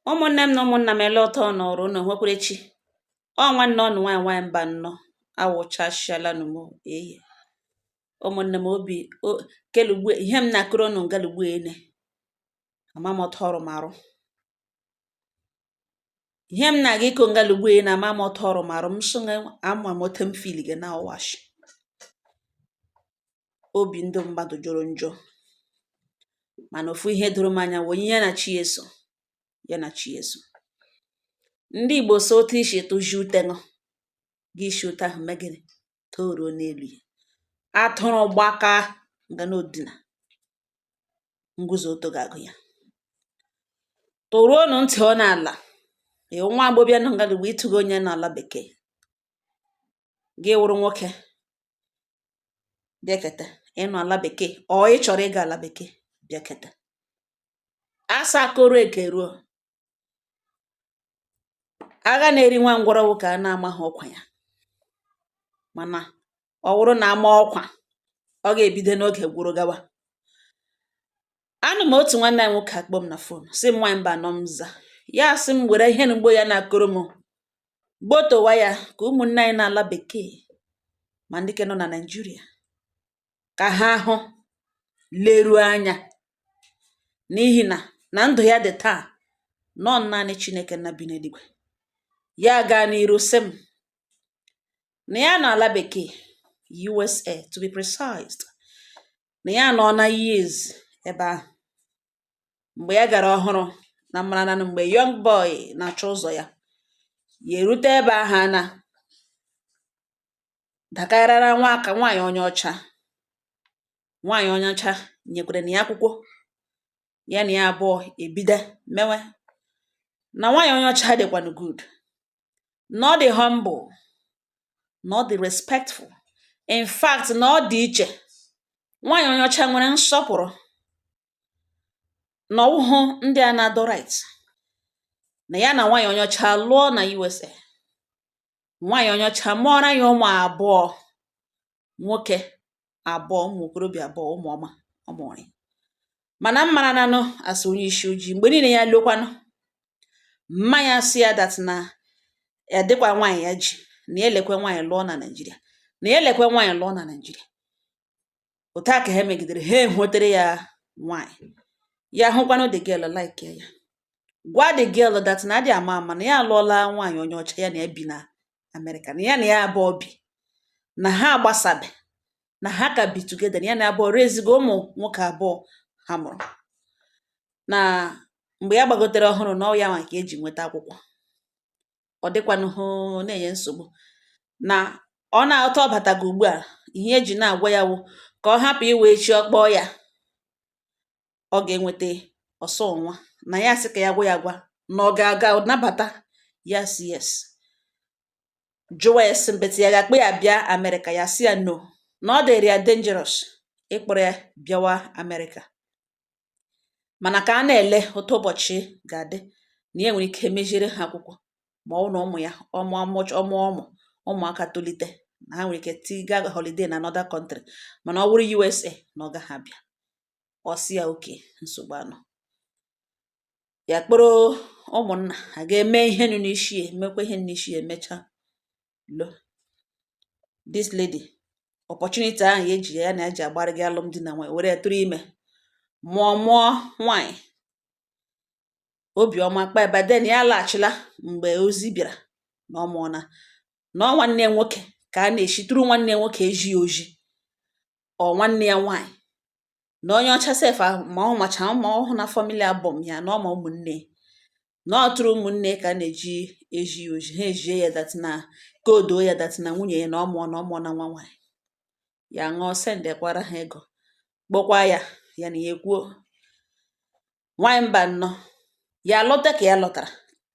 ụmụnne m na ụmụnna m ele otu unu rụ unu nwekwara chi ọ nwanne unu nwaanyị nwaanyị mbanọ awụchasịala nụ m eyi ụmụnne m obi kelugbu ihe m na-akọrọ unu ngalugbu ene ama m otu ọ rụ m arụ ihe m na-aga ịkọ ngala ugbu a na ama m otu ọ rụ m arụ m sị gị ama m otu m fili gị na ọ wụ ashi obi ndị mmadụ jọrọ njọ mana ofu ihe doro m anya wụ onye ya na chi ya so ya na chi ya so ndị igbo sị otu i si tụzi ute ṅụ gị esi otu ahụ mee gịnị tọruo n'elu ya atụrụ gbaka nga na odina nguzo ọtọ ga-agụ ya tọruonụ ntị ọ n'ala ee nwa agbọbịa nọ ngalugbu ịtụghị onye nọ ala bekee gị wụrụ nwoke bịaketa ị nọ ala bekee or ị chọrọ ịga ala bekee bịaketa asa koro eke ruo agha na-eri nwa ngwọrọ wụ ka a na-amaghị ọkwa ya mana ọ wụrụ na a maa ọkwa ọ ga-ebido n'oge gwụrụ gawa anọ m otu nwanne anyị nwoke akpọọ m na fon sị m nwaanyị mbanọ m za ya asị m were ihe mgbo ya na-akọrọ m gbotowa ya ka ụmụnne anyị nọ ala bekee ma ndị ke nọ na naijiria kà ha hụ leruo anyā n'ihì nà nà ndụ̀ ya dị̀ taà na ọ naanị Chinēkè nna bi n'eligwè ya gaa n'iru sị m nà ya nọ̀ àla bèkèè usa to be precise nà ya anọọla years ebe ahụ̀ m̀gbè ya gàrà ọhụrụ̄ nà m mara nanụ m̀gbè young boy nà-àchọ ụzọ̀ ya yà èrute ebe ahụ̀ anā dàkarara nwa aka nwaànyị onye ọcha nwaànyị onye ọcha nyèkwèrè nà ya akwụkwọ ya nà ya abụọ èbido mewe nà nwaànyị onye ọcha dị̀kwànụ good nà ọ dị̀ humble nà ọ dị̀ respectful in fact nà ọ dị̀ ichè nwaànyị onye ọcha nwere nsọpụ̀rụ nà ọ wụhụ ndị à na-adọ right nà ya nà nwaànyị onye ọcha alụọ nà usa nwaanyị onye ọcha mụọra ya ụmụ abụọ nwoke abụọ ụmụ okorobịa abụọ ụmụ ọma ọ mụrụ ya mana m mara nanụ a sị onye isi ojii mgbe niile ya lọkwanụ mma ya sị ya that na ya dịkwa nwaanyị ya ji na ya elekwe nwaanyị lụọ na naijiria na ya elekwe nwaanyị lụọ na naijiria otu a ka ha megidere ha enwetere ya nwanyị ya hụkwanụ the girl like ya gwa the girl that na a dị ama ama na ya alụọla nwaanyị onye ọcha ya na ya bi na Amerịka na ya na ya abụọ bi na ha agbasabe na ha ka bi together na ya na ya abụọ rezigo ụmụ nwoke abụọ ha mụrụ na mgbe ya gbagotere ọhụrụ na ọ wụ ya nwa ka e ji nweta akwụkwọ ọ dịkwanụhụ na-enye nsogbu na ọ na-ahọta ọbata gị ugbu a ihe e ji na-agwa ya wụ ka ọ hapụ iwe echi ọ kpọọ ya ọ ga-enweta ọsọ nwa na ya sị ka ya gwa ya gwa na ọ ga-aga nabata ya sị yes jụwa ya sị mbetị ya ga-akpọ ya bịa amerịka ya sị ya no na ọ dịrị ya dangerous ịkpọrọ ya bịawa amerịka mana ka a na-ele otu ụbọchị ga-adị na ya nwere ike meziere ha akwụkwọ ma ọ wụ na ụmụ ya ọ mụ ọ mụ ụmụ ụmụaka tolite na ha nwere ike tiga holiday na another country mana ọ wụrụ USA na ọ gaghị abịa ọ sị ya okay nsogbu anọ ya kpọrọ ụmụnna ha gaa mee ihe nụ n'isi ya emekwa ihe n'isi ya emechaa lụọ this lady opportunity ahụ ya eji ya na eji agbara gị alụmdi na nwanyị were tụrụ ime mụọ mụọ nwanyị obiọma kpa by then ya alaghachila mgbe ozi bịara na ọ mụọna na ọ nwanne ya nwoke ka a na-eshi through nwanne ya nwoke ezi ya ozi or nwanne ya nwanyị na onye ọcha sef ahụ ma ọ macha ma ọ hụna family album ya na ọ ma ụmụnne na ọ through ụmụnne ka a na-eji ezi ya ozi ha ezie ya that na ka o doo ya that na nwunye ya na ọ mụọna ọ mụọna nwa nwaanyị ya ṅụọ sendekwara ha ego kpọkwa ya ya na ya ekwuo nwaanyị mba nnọọ ya lọta ka ya lọtara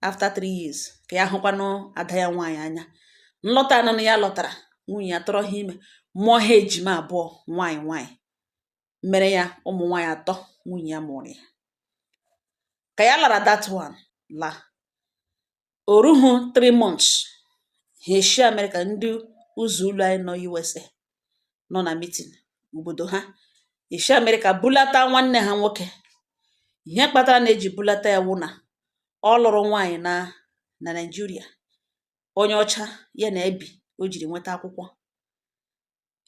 after three years ka ya hụkwanụ ada ya nwaanyị anya nlọta anọ na ya lọtara nwunye ya tụrụ ha ime mụọ ha ejima abụọ nwaanyị nwaanyị mere ya ụmụ nwaanyị atọ nwunye ya mụụrụ ya ka ya lara that one la o ruhu three months ha eshi Amerịka ndị ụzọ ụlọ anyị nọ USA nọ na mitin obodo ha eshi Amerịka bulata nwanne ha nwoke ihe kpatara na e ji bulata ya wụ na ọ lụrụ nwaanyị na na Naịjirịa onye ọcha ya na ebi o jiri nweta akwụkwọ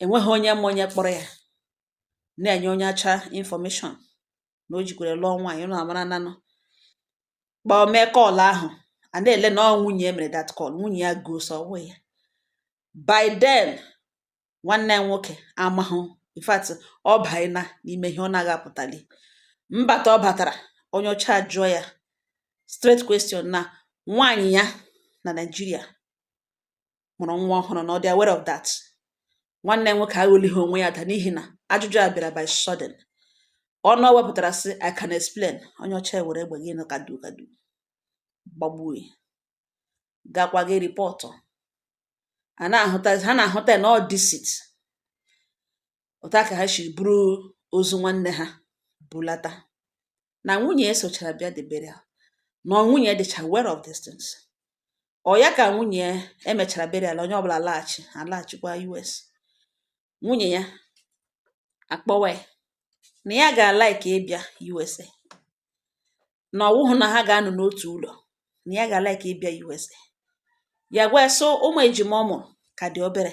enweghị onye ma onye kpọrọ ya na-enye onye ọcha information na o jekwara lụọ nwaanyị ụnụ amara nanụ kpọọ mee call ahụ a na-ele na ọ nwunye ya mere that call nwunye ya gọọ sị ọ wụ ya by then nwanne ya nwoke amahụ in fact ọ baina n'ime ihe ọ naghị apụtali mbata ọ batara onye ọcha jụọ ya straight question na nwaanyị ya na Naịjirịa mụrụ nwa ọhụrụ na ọ dị aware of that nwanne nwoke aghọlighị onwe ya da n'ihi na ajụjụ a bịara by sudden ọnụ ọ wepụtara sị I can explain onye ọcha were egbe gị nụ kadu kadu gbagbuo ya gakwa ga report a na-ahụta ha na-ahụta ya na ọ deceit otu a ka ha si buru ozu nwanne ha bulata na nwunye ya sochara bịa the burial na nwunye ya dịcha aware of these things ọ ya ka nwunye ya e mechara burial onye ọbụla alaghachi alaghachikwa US nwunye ya akpọwa ya na ya ga-alike ịbịa USA na ọ wụhụ na ha ga-anọ n'otu ụlọ na ya ga-alike ịbịa USA ya gwa ya sị ụmụ ejima ọ mụrụ ka dị obere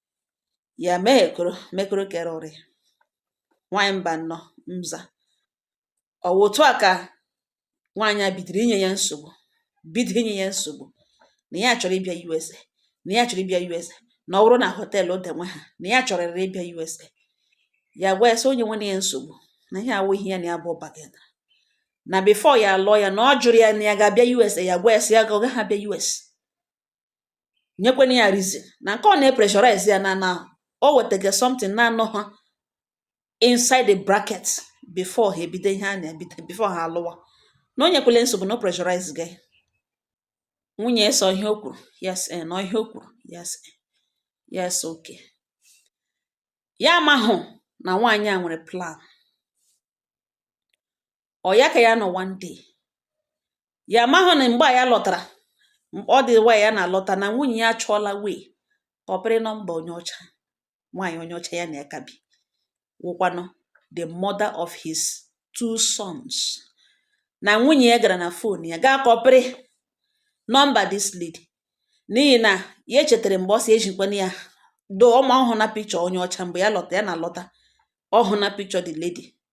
ya mee ekoro mekoro kere ụrị nwaanyị mba nnọ mza ọ wụ otu a ka nwaanyị a bidoro inye ya nsogbu bido inye ya nsogbu na ya chọrọ ịbịa USA na ya chọrọ ịbịa USA na ọ bụrụ na họteelụ dị nwe ha na ya chọrịrị ịbịa USA ya gwa ya sị o nyekwele ya nsogbu na ihe awụ ihe ya na ya bụ bargain na before ya lụọ ya na ọ jụrụ ya na ya ga-abịa US ya gwa ya sị ya ga ọ gaghị abịa US nyekwana ya reason na nke ọ na-epressurize ya na na o wetaga something na-anọ ha inside the bracket before ha ebido ihe ha na-ebido before ha alụwa na o nyekwala nsogbu na o pressurize gị nwunye ya sị ọ ihe o kwuru yes eh, na ọ ihe o kwuru yes eh, yes okay ya amahụ na nwaanyị a nwere plan ọ ya ka ya nọ one day ya amahụ na mgbe a ya lọtara ọ dị wa ya na-alọta na nwunye ya achọọla way kọpịrị nọmba onye ọcha nwaanyị onye ọcha ya na ya ka bi wụkwanụ the mother of his two sons na nwunye ya gara na phone ya gaa kọpịrị nọmba this lady n'ihi na ya chetara mgbe ọ si ejikwana ya do ọma ọhụụ na picture onye ọcha mgbe ya lọta ya na-alọta ọhụụ na picture the lady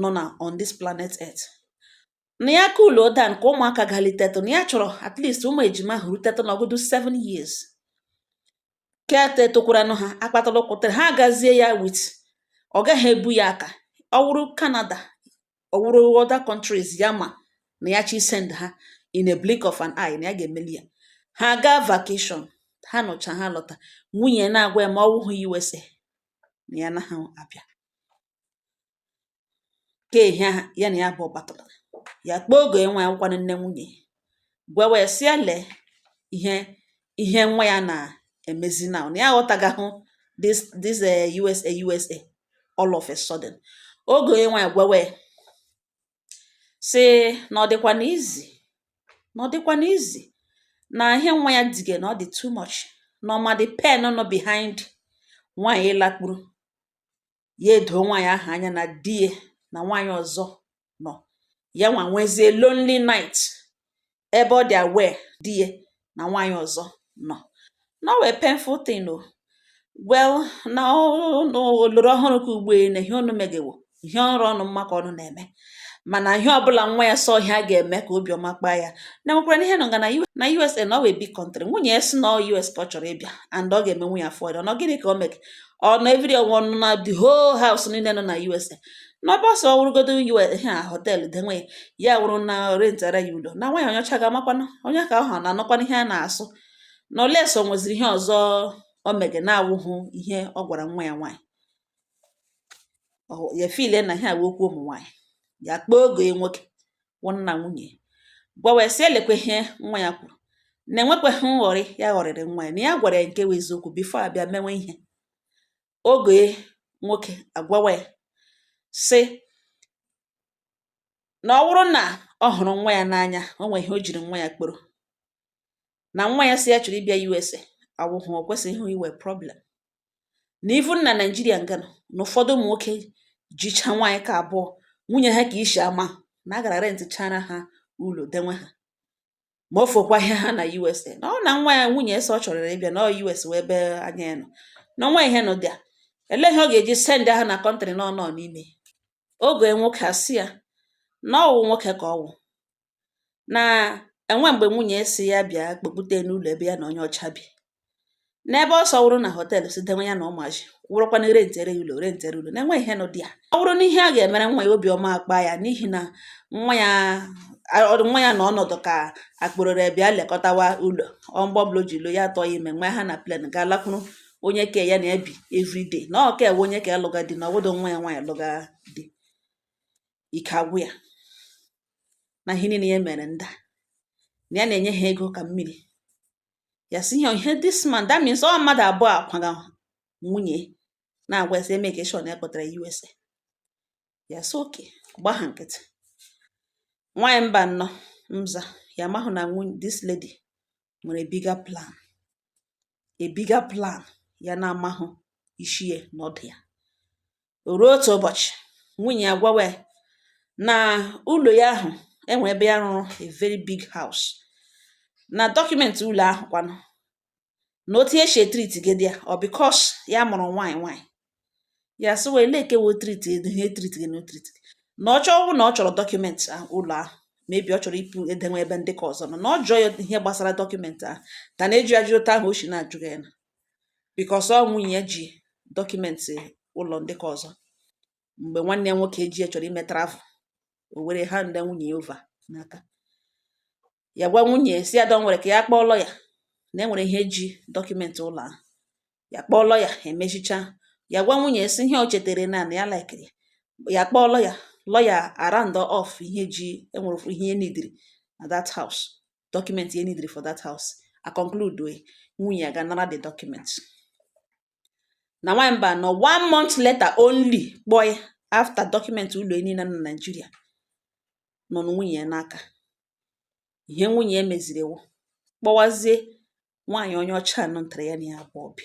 nọ na on this planet earth na ya cool down ka ụmụaka galitetụ na ya chọrọ at least ụmụ ejima ahụ rutetụ n'ọgụdụ 7 years kete tokwaranụ ha akpatara ụkwụtara ha agazie ya which ọ gaghị ebu ya aka ọ wụrụ Canada ọ wụrụ other countries ya ma na ya chọọ isend ha in a blink of an eye na ya ga-emeli ya ha gaa vacation ha nọcha ha lọta nwunye na-agwa ya ma ọ wụhụ USA na ya anaghị abịa kee ihe ya na ya bụ ọ kpatara ya kpọọ ọgọ ya nwaanyị wụkwanụ nne nwunye gwawa ya sị ya lee ihe ihe nwa ya na-emezi na na ya aghọtagahụ this this eh, USA USA all of a sudden ọgọ ya nwaanyị gwawa ya sị na ọ dịkwa na easy na ọ dịkwa na easy na ihe nwa ya dige na ọ dị too much na ọ ma the pain nọ behind nwaanyị ịlakpuru ya edoo nwaanyị ahụ anya na di ya na nwaanyị ọzọ nọ ya nwa nwezie lonely night ebe ọ dị aware di ya na nwaanyị ọzọ nọ na ọ wụ a painful thing o well na oloro ọhụrụ ka ugbo na ihe ụnụ mege wụ ihe ọrụ ọnụ mma ka ụnụ na-eme mana ihe ọbụla nwa ya sị ha ga-eme ka obi ọma kpaa ya na e nwekwara n'ihe nọ nga na usa na ọ wụ a big country nwunye ya sị na us ka ọ chọrọ ịbịa and ọ ga-emenwu ya afford ọnọ gịnị ka o mege ọnọ every ọnwụ ọnụ na the whole house niile nọ na usa n'ebe ọ sọ ọ wụrụgodu iwe ihe a họteelụ denwe ya wụrụ na rentara ya ụlọ na nwaanyị onye ọcha ga-amakwanụ onye ka ọ ha na-anụkwanụ ihe a na-asụ na unless o nweziri ihe ọzọ o mege na-awụhụ ihe ọ gwara nwa ya nwaanyị ya feel na ihe a wụ okwu ụmụ nwaanyị ya kpọọ ọgọ ya nwoke wụ nna nwunye gwawa ya sị ya lekwe ihe nwa ya kwuru na e nwekweghị nghọrị ya ghọrịrị nwa ya na ya gwara ya nke bụ eziokwu before a bịa mewe ihe ọgọ ya nwoke agwawa ya sị na ọ bụrụ na ọ hụrụ nwa ya n'anya o nwee ihe o jiri nwa ya kpọrọ na nwa ya sị ya chọrọ ịbịa USA awụhụ o kwesịghị ịwụ a problem na even na Naijiria nga a nọ na ụfọdụ ụmụ nwoke jicha nwaanyị ka abụọ nwunye ha ka isi ama na a gara rentịchara ha ụlọ denwe ha ma ọ fọkwa ihe ha na USA nọ na nwa ya nwunye ya sị ọ chọrọ ịbịa na US wụ ebe anya ya nọ na nwa ihe nọ dị ya ele ihe ọ ga-eji send ha na country na ọ nọ n'ime ọgọ ya nwoke asị ya na ọ wụ nwoke ka ọ wụ na e nwe mgbe nwunye sị ya bịa kpọkpute n'ụlọ ebe ya na onye ọcha bi n'ebe ọ sọ wụrụ na họteelụ sị denwe ya na ụmụazị wụrụkwa na rentere ya ụlọ rentere ụlọ na e nwe ihe nọ dị ya ọ bụrụ na ihe a ga-emere nwa ya obi ọma akpa ya n'ihi na nwa ya nwa ya na ọnọdụ ka a kpọrọ ya bịa lekọtawa ụlọ ọ mgbe ọbụla o ji lọ ya atụọ ya ime nwa ha na plane ga-alakwuru onye ke ya na-ebi everyday na ọ ka ewe onye ka alụga di na ọbụdụ nwa ya nwaanyị alụga di ike agwụ ya na ihe niile ya mere nda na ya na-enye ha ego ka mmiri ya sị ihe ihe this man that means ọ mmadụ abụọ a kwaga nwunye na-agwa ya sị ya make sure na ya kpọtara USA ya sị okay gba ha nkịtị nwaanyị mba nnọ mza ya mahụ na nwunye this lady nwere bigger plan a bigger plan ya na-amahụ ishi ya na ọdụ ya O ruo otu ụbọchị, nwunye ya gwawa ya na ụlọ ya ahụ enwere ebe ya rụrụ a very big house na dọkụmentị ụlọ ahụ kwanụ na otu esi etriti gedi ya ọ because ya mụrụ nwaanyị nwaanyị ya sị wee leke wo triti edu ihe triti gị na triti gị na ọ chọọ na ọ chọrọ dọkụmentị ụlọ ahụ maybe ọ chọrọ ịpụ edenwe ebe ndị ka ọzọ nọ na ọ jụọ ya ihe gbasara dọkụmentị ahụ ka na-eji ajụ otu ahụ o si na-ajụ ya na because ọ nwunye ya ji dọkụmentị ụlọ ndị ka ọzọ mgbe nwanne ya nwoke ji ya chọrọ ime travel o were handa nwunye ya over n'aka ya gwa nwunye si ya don't worry ka ya kpọọ lọya na enwere ihe eji dọkụmentị ụlọ ahụ ya kpọọ lọya emechicha ya gwa nwunye si ihe o chetere na na ya laikiri ya kpọọ lọya lọya a round off ihe ji enwere ofu ihe enidiri na that house document enidiri for that house a conclude o, nwunye ya gaa nara the document na nwaanyị mba nọ one month later only kpọọ ya after document ụlọ ya niile na Naịjirịa nọ na nwunye ya n'aka ihe nwunye ya meziri wụ kpọwazie nwaanyị onye ọcha nọ ntara ya na ya abụọ bi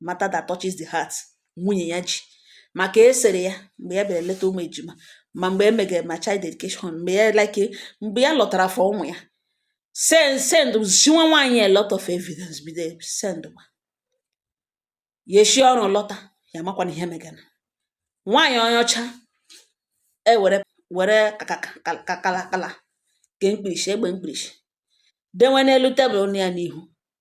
matter that touches the heart nwunye ya ji ma ka esere ya mgbe ya bịara leta ụmụ ejima ma mgbe emegere ma child dedication mgbe ya like mgbe ya lọtara for ụmụ ya send send ziwa nwaanyị a lot of evidence bido send ma ya eshi ọrụ lọta ya makwana ihe megana nwaanyị onye ọcha ewere were kakakala ke mkpirisi egbe mkpirisi denwe n'elu tebụl nọ ya n'ihu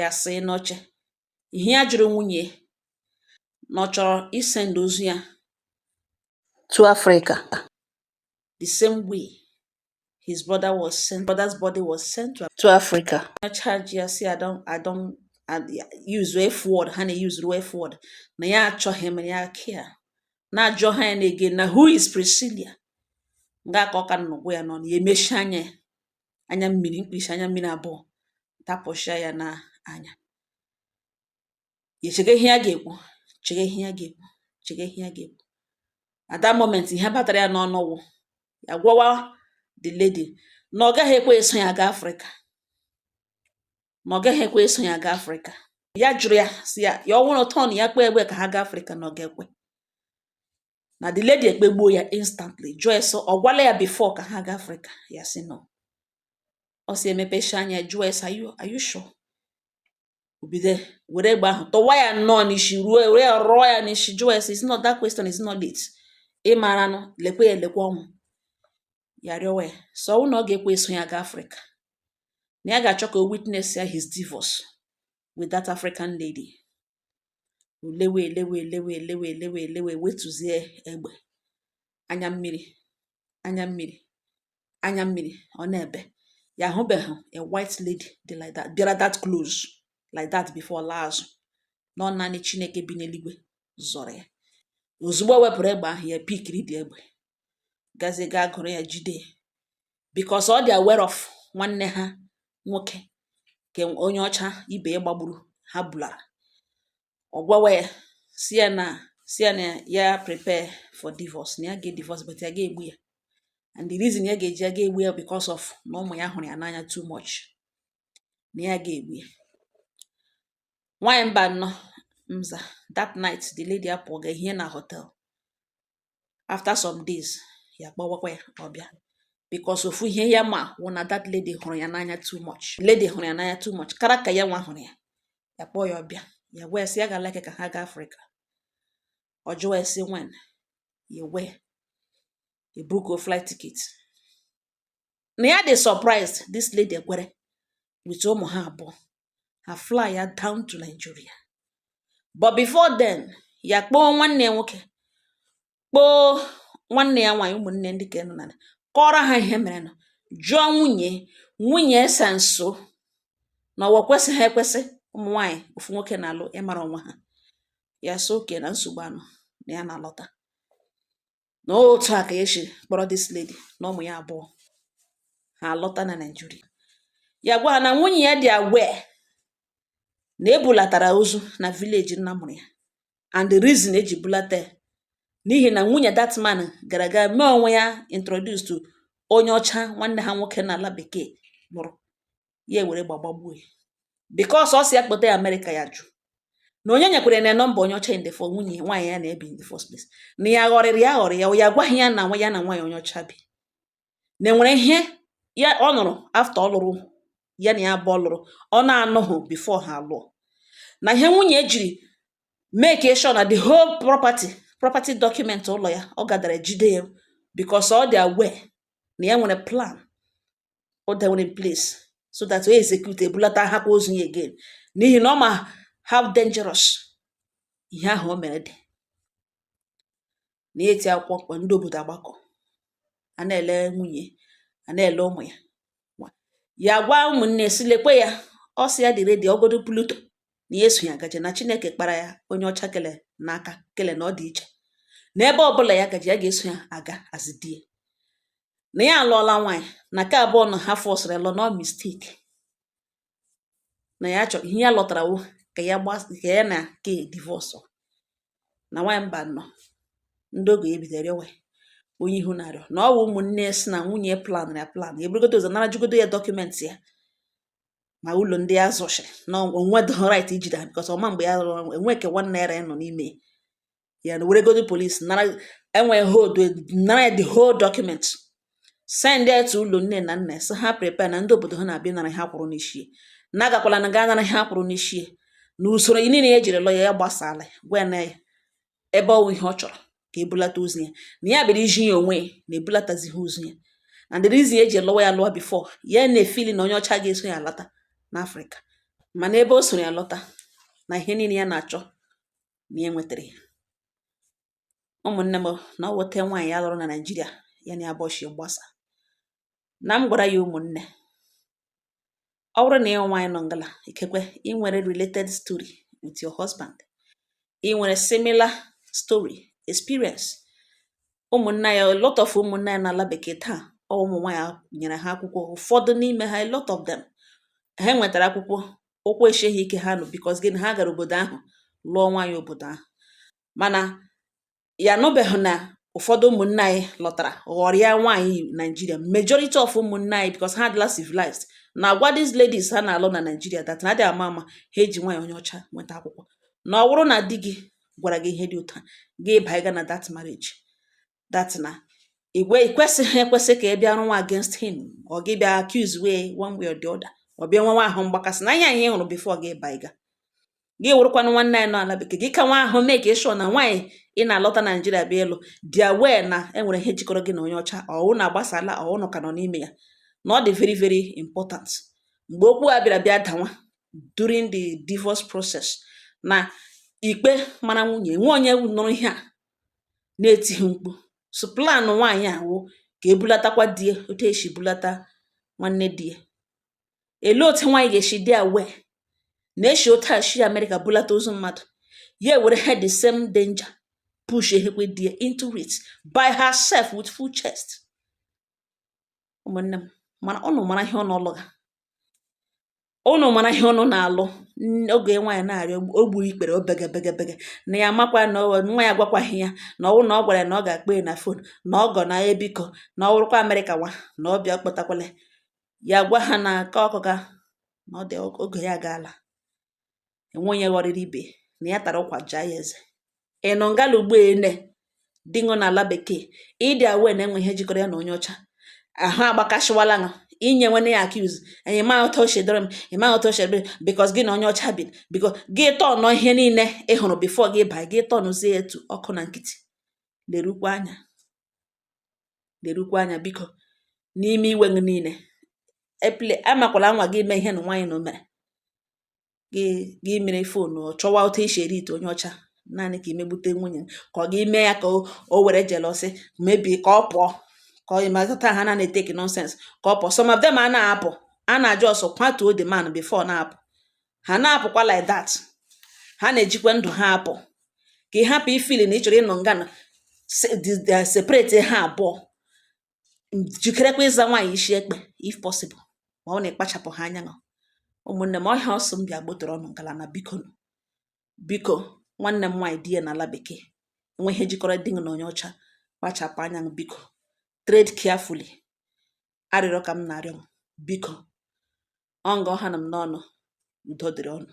ya sị n'oche ihe ya jụrụ nwunye na ọ chọrọ isend ozu ya to Africa the same way his brother was sent brother's body was sent to, to Africa na charge ya si I don't I don't use F word ha na use F word na ya achọghị m ya kia na-ajụgha ya na-ege na who is Priscilla nga ka ọ ka nnukwu ya nọ na ya emechi anya ya anya mmiri mkpirisi anya mmiri abụọ tapụsịa ya na anya echege ihe ya ga-ekwu chege ihe ya ga-ekwu chege ihe ya ga-ekwu at that moment ihe batara ya n'ọnụ wụ ya gwawa the lady na ọ gaghị ekwe eso ya gaa afrịka na ọ gaghị ekwe eso ya gaa afrịka ya jụrụ ya si ya ya ọ wụrụ tọn ya kpee egbe ka ha gaa afrịka na ọ ga-ekwe na the lady ekpegbuo ya instantly jụọ ya si ọ gwala ya before ka ha gaa afrịka ya si no ọ si emepecha anya jụọ ya si are you, are you sure? o bido were egbe ahụ tọwa ya nnọọ n'isi ruo were ya rụọ ya n'isi jụọ ya si is not that question is not it ị maranụ lekwe ya lekwe ọnwụ ya rịọwa ya si ọ wụ na ọ ga-ekwe eso ya gaa afrịka na ya ga-achọ ka o witness ya his divorce with that African lady lewe elewe elewe elewe elewe elewe wetuzie egbe anya mmiri anya mmiri anya mmiri ọ na-ebe ya ahụbeghị a white lady dị like that bịara that close like that before laa azụ na ọ naanị Chineke bi n'eluigwe zọrọ ya ozugbo o wepụrụ egbe ahụ ya pikiri the egbe gazie gaa gụrụ ya jide because ọ dị aware of nwanne ha nwoke nke onye ọcha ibe ya gbagburu ha bulara ọ gwawa ya sị ya na sị ya na ya prepare for divorce na ya ga divorce but ya ga-egbu ya and the reason ya ga-eji ya ga-egbu ya because of na ụmụ ya hụrụ ya n'anya too much na ya ga-egbu ya nwaanyị mba nnọọ mza that night the lady apụọ gaa hie na hotel after some days ya kpọwakwa ya ọ bịa because ofu ihe ya ma wụ na that lady hụrụ ya n'anya too much lady hụrụ ya n'anya too much kara ka ya nwa hụrụ ya ya kpọọ ya ọ bịa ya wee sị ya ga like ka ha gaa Africa ọ jụwa ya sị when ya wee ebookuo flight ticket na ya dị surprised this lady ekwere with ụmụ ha abụọ ha flya down to Nigeria but before then ya kpọọ nwanne ya nwoke kpọọ nwanne ya nwaanyị ụmụnne ndị ka nọ na kọọrọ ha ihe merenụ jụọ nwunye nwunye esa nso na ọwa kwesịghị ekwesị ụmụ nwaanyị ofu nwoke na-alụ ịmara onwe ha ya sị okay na nsogbu anọ na ya na-alọta na otu a ka ya si kpọrọ this lady na ụmụ ya abụọ ha lọta na Naịjirịa ya gwa ha na nwunye ya dị aware na e bulatara ozu na village nna mụrụ ya and the reason e ji bulata ya n'ihi na nwunye that man gara gaa mee onwe ya introduce to onye ọcha nwanne ha nwoke n'ala bekee lụrụ ya ewere gbagbagbuo ya because ọ sị ya kpọta ya America ya jụ na onye nyekwere na nọmba onye ọcha in the first nwunye nwaanyị ya na-ebi in the first place na ya ghọrịrị ya ghọrị ya ya gwaghị ya na nwa ya na nwaanyị onye ọcha bi na e nwere ihe ya ọ nụrụ after ọ lụrụ ya na ya abụọ lụrụ ọ na-anụghị before ha alụọ na ihe nwunye ya jiri make sure na the whole property property document ụlọ ya ọ gadara jide ya because ọ dị aware na ya nwere plan o dewere in place so that o execute ebulatahakwa ozu ya again n'ihi na ọ ma how dangerous ihe ahụ o mere dị na eti akwụkwọ mkpu ndị obodo agbakọ a na-ele nwunye a na-ele ụmụ ya ya gwa ụmụnne sị lekwe ya ọ sị ya dị ready ọ godu Pluto na ya eso ya gaje na chineke kpara ya onye ọcha kele n'aka kele na ọ dị iche n'ebe ọbụla ya gaje ya ga-eso ya aga azidie na ya alụọla nwaanyị na nke abụọ na ọ ha fọsụrụ ya lụọ na ọ mistake na ya chọrọ ihe ya lọtara wụ ka ya gba ka ya na ke divorce na nwaanyị mba nọ ndị ọgọ ya bidoro rịọwa onye ị hụ na-arịọ na ọ bụ ụmụnne si na nwunye plan ya plan ya eburugodo ụzọ nara jigodo ya document ya ma ụlọ ndị ya zụchiri na o nwe the right ijide ha because ọ ma mgbe ya rụrụ enwe ke nwanne ya nọ n'ime ya na weregodo police nara enwee hold nara ya the whole document send ya to ụlọ nne na nna sị ha prepare na ndị obodo ha na-abịa nara ihe a kwụrụ n'ishi ya na agakwala na gaa nara ihe a kwụrụ n'ishi ya na usoro niile ya e jiri lụọ ya ya gbasala ya gwa ya na ya ebe ọ wụ ihe ọ chọrọ ka e bulata ozu ya na ya bịara iji ya onwe ya na ebulatazighị ozu ya and the reason eji lụwa ya lụwa before ya na-efili na onye ọcha ga-eso ya lọta n'afrịka mana ebe o soro ya lọta na ihe niile ya na-achọ na ya enwetara ya ụmụnne m na ọ wụ otu nwaanyị ya lụrụ na naijiria ya na ya bịa shi gbasa na m gwara ya ụmụnne ọ wụrụ na ị wụ nwaanyị nọ ngala ikekwe ị nwere related story with your husband ị nwere similar story experience ụmụnna anyị a lot of ụmụnna anyị n'ala bekee taa ọ wụ ụmụ nwaanyị nyere ha akwụkwọ ụfọdụ n'ime ha a lot of them ha nwetara akwụkwọ ụkwụ eshie ha ike ha nụ because gịnị ha gara obodo ahụ lụọ nwaanyị obodo ahụ mana ya anụbeghị na ụfọdụ ụmụnna anyị lọtara ghọrịa nwaanyị naijiria majority of ụmụnna anyị because ha adịla civilized na-agwa these ladies ha na-alụ na naijiria that na adị ama ama ha eji nwaanyị onye ọcha nweta akwụkwọ na ọ wụrụ na di gị gwara gị ihe dị otu a gị banye na that marriage that na i kwesịghị ekwesị ka ị bịa rụwa against him or gị bịa accusewa ya one way or the other or bịa nwewa ahụ mgbakasị na ihe anyị hụrụ before gị baiga gị wụrụkwanụ nwanne anyị nọ ala bekee gị ka nwa ahụ make kwa sure na nwaanyị ị na-alọta naijiria bịa ịlụ dị aware na e nwere ihe jikọrọ gị na onye ọcha ọ wụ na a gbasaala ọ wụ na a ka nọ n'ime ya na ọ dị very very important mgbe okwu a bịara bịa dawa during the divorce process na ikpe mara nwunye nwe onye nụrụ ihe a na-etighị mkpu so plan nwaanyị a wụ ka e bulatakwa di ya otu e si bulata nwanne di ya elee otu nwaanyị ga-esi dị aware na e si otu a si amerịka bulata ozu mmadụ ya were ha the same danger push ehekwe di ya into it by herself with full chest ụmụnne m mana ụnụ mara ihe ụnụ lụga ụnụ mara ihe ụnụ na-alụ oge nwaanyị na-arịọ o gburu ikpere o bege bege bege na ya amakwa na nwa ya agwakwaghị ya na ọ wụrụ na ọ gwara ya na ọ ga-akpọ ya na phone na ọgọ na ya biko na ọ wụrụkwa amerịka nwa na ọ bịa akpọtakwala ya gwa ha na aka ọkụ ga na ọ dị oge ya agaala enwe onye ghọrịrị ibe na ya tara ụkwa jaa ya eze ị nọ ngala ugbo a na di gị nọ n'ala bekee ị dị aware na e nwee ihe jikọrọ ya na onye ọcha ahụ agbakasịwala ṅụ i nyewene ya accuse anyị ma ụtọ ochie dịrị m ị ma ụtọ ochie dịrị because gị na onye ọcha bi because gị tọnụ ihe niile ị hụrụ before gị baa gị tọnụzie etu ọkụ na nkịtị lerukwa anya lerukwa anya biko n'ime iwe gị niile please amakwala nwa gị mee ihe na nwaanyị na o mere gị gị mere fon ọ chọwa otu esi eri ite onye ọcha naanị ka i megbute nwunye ka ọ gị mee ya ka o were jealousy mebie ka ọ pụọ ka ọ ịmazụta ha na na-etake nonsense ka ọ pụọ some of them ha na-apụ ha na-eji ọsọ kwatuo the man before na-apụ ha na-apụkwa like that ha na-ejikwa ndụ ha apụ ka ị hapụ ịfeel na ị chọrọ ịnọ nga na-separate ha abụọ jikerekwa ịza nwaanyị isi ekpe if possible ma ọ wụ na ị kpachapụghị anya o ụmụnne m ọ ihe a ọ sị m bịa gbotoro unu ngala na biko biko nwanne m nwaanyị di ya n'ala bekee e nwee ihe jikọrọ di gị na onye ọcha kpachapụ anya o biko tread carefully arịrịọ ka m na-arịọ m biko ọ nga ọ hanụ m n'ọnụ udo dịrị unu